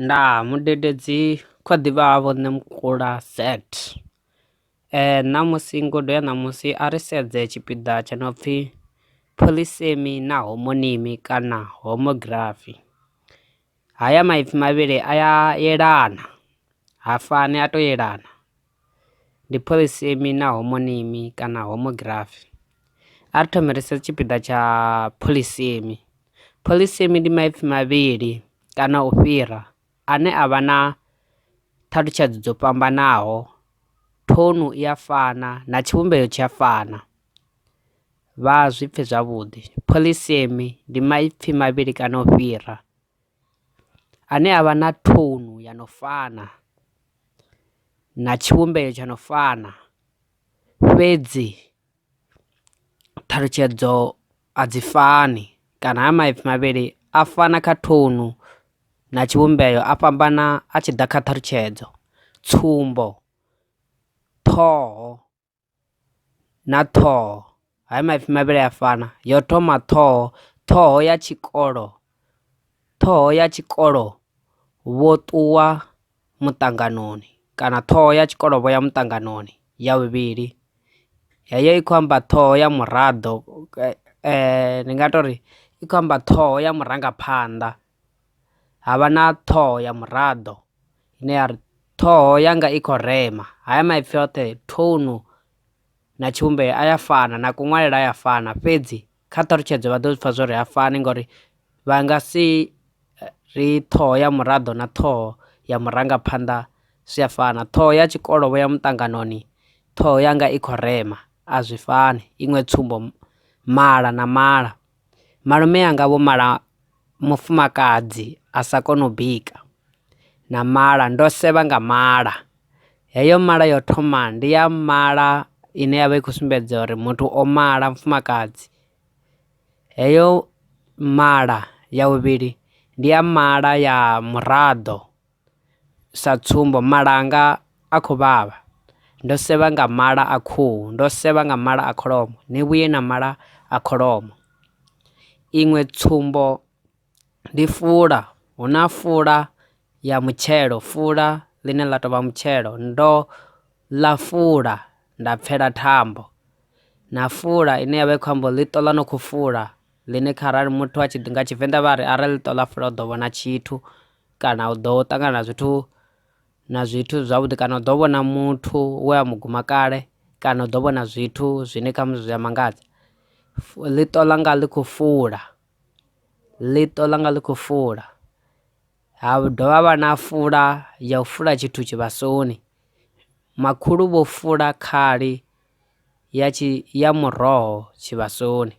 nda mudededzi kho ḓivha ha vho nṋe mukula set eh ṋamusi ngudo ya ṋamusi a ri sedze tshipiḓa tsha no pfhi phoḽisemi na homoniimi kana homography. Haya maipfi mavhili a ya yelana, ha fani, a tou yelana. Ndi phoḽisemi na homonimi kana homogirafi. A ri thome ri sedze tshipiḓa tsha phoḽisemi. Phoḽisemi ndi maipfi mavhili kana u fhira ane a vha na ṱhalutshedzo dzo fhambanaho, thounu i a fana na tshivhumbeo tshi a fana. Vha zwi pfe zwavhuḓi. Polisemi ndi maipfi mavhili kana u fhira ane avha na thounu ya no fana na tshivhumbeo tsha no fana fhedzi ṱhalutshedzo a dzi fani kana ha maipfi mavhili a fana kha thounu na tshivhumbeo a fhambana a tshi ḓa kha ṱhalutshedzo tsumbo, ṱhoho. na ṱhoho haya maipfi mavhili a fana yo thoma ṱhoho ṱhoho ya tshikolo ṱhoho ya tshikolo vho ṱuwa muṱanganoni kana ṱhoho ya tshikolo vho ya muṱanganoni ya vhuvhili heyo i khou amba ṱhoho ya muraḓo ndi nga tori i khou amba ṱhoho ya murangaphanḓa ha vha na ṱhoho ya muraḓo ine ya ri ṱhoho yanga i khou rema. Haya maipfi oṱhe, thounu na tshivhumbeo a ya fana na kuṅwalele a ya fana fhedzi kha ṱhalutshedzo vha ḓo zwi pfha zwo ri ha fani ngori vha nga si ri ṱhoho ya muraḓo na ṱhoho ya murangaphanḓa zwi a fana. Ṱhoho ya tshikolo vho ya muṱanganoni, ṱhoho yanga i khou rema a zwi fani. Iṅwe tsumbo, mala na mala. Malume anga vho mala mufumakadzi a sa koni u bika na mala ndo sevha nga mala heyo mala yo thoma ndi ya mala ine yavha i kho sumbedza uri muthu o mala mufumakadzi heyo mala ya vhuvhili ndi ya mala ya muraḓo. Sa tsumbo, mala anga a khou vhavha. Ndo sevha nga mala a khuhu. Ndo sevha nga mala a kholomo. Ni vhuye na mala a kholomo. Iṅwe tsumbo ndi fula. Hu na fula ya mutshelo, fula ḽine ḽa tou vha mutshelo. Ndo ḽa fula nda pfela thambo. Na fula ine ya vha i khou amba uri ḽiṱo ḽa no khou fula, ḽine kharali muthu a tshi, nga Tshivenḓa vha ri arali ḽiṱo ḽa fula u ḓo vhona tshithu. kana u ḓo ṱangana na zwithu na zwithu zwavhuḓi kana u ḓo vhona muthu we a mu guma kale kana u ḓo vhona zwithu zwine khamusi zwi a mangadza ḽiṱo ḽanga ḽi khou fula ḽiṱo ḽanga ḽi khou fula ha dovha ha vha na fula ya u fula tshithu tshivhasoni makhulu vho fula khali ya tshi ya muroho tshivhasoni.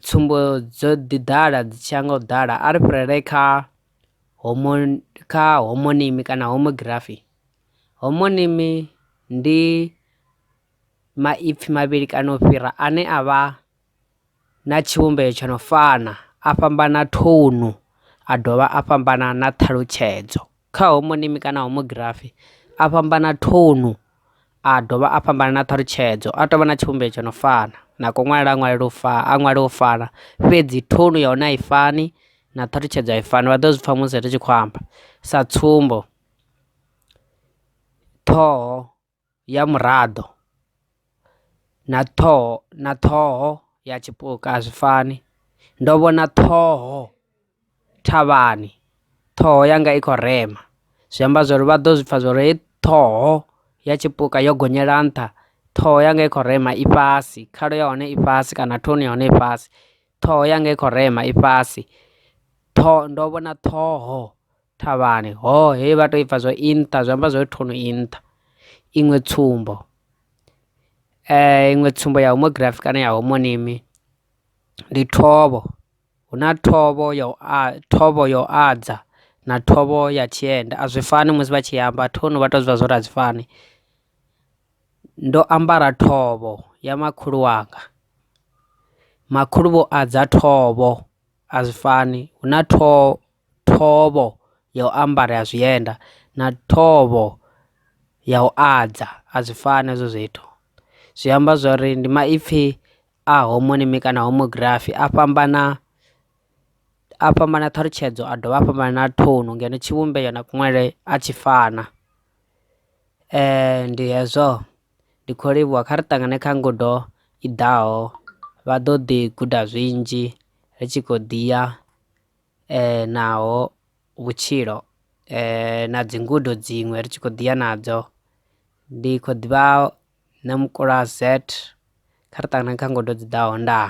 Tsumbo dzo ḓi ḓala dzi tshiya nga u ḓala a ri fhirele kha homoni kha homonimi kana homography. Homonimi ndi maipfi mavhili kana u fhira ane a vha na tshivhumbeo tsho no fana a fhambana thounu a dovha a fhambana na ṱhalutshedzo. Kha homonimi kana homogirafi, a fhambana thounu a dovha a fhambana na ṱhalutshedzo, a tou vha na tshivhumbeo tsho no fana, na kunwalele a ṅwalele u fana, a ṅwale u fana, fhedzi thounu ya hone a i fani na ṱhalutshedzo a i fani, vha ḓo zwi pfa musi ri tshi khou amba. Sa tsumbo, ṱhoho. ya muraḓo na ṱhoho na ṱhoho ya tshipuka a zwi fani ndo vhona ṱhoho thavhani ṱhoho yanga i khou rema zwi amba zwori vha ḓo zwi pfha zwori heyi ṱhoho ya tshipuka yo gonyela nṱha ṱhoho yanga i khou rema i fhasi khalo ya hone i fhasi kana thoni ya hone i fhasi ṱhoho yanga i khou rema i fhasi ṱhoho ndo vhona ṱhoho. thavhani. Hoo, hei vha tou i pfa zwo i nṱha, zwi amba zwo ri thono i nṱha. Iṅwe tsumbo, eh, iṅwe tsumbo ya homography kana ya homonimi ndi thovho hu na thovho ya u a thovho ya u adza na thovho ya tshienda a zwi fani musi vha tshi amba thono vha tou zwi zwa uri a zwi fani ndo ambara thovho ya makhulu wanga makhulu vho adza thovho a zwi fani hu na thovho thovho ya u ambara ya zwienda na thovho ya u adza a zwi fani hezwo zwithu zwi amba zwori ndi maipfi a homonymi kana homography a fhambana a fhambana ṱhalutshedzo a dovha a fhambana na ṱhoni ngeno tshivhumbeo na kunwalele a tshi fana ndi hezwo ndi kho livhuwa kha ri ṱangane kha ngudo i ḓaho vha ḓo ḓi guda zwinzhi ri tshi khou ḓi ya. naho vhutshilo na dzi ngudo dziṅwe ri tshi kho ḓiya nadzo ndi kho ḓivha na mukulo wa zet kha ri ṱangana kha ngudo dzi ḓaho ndaa.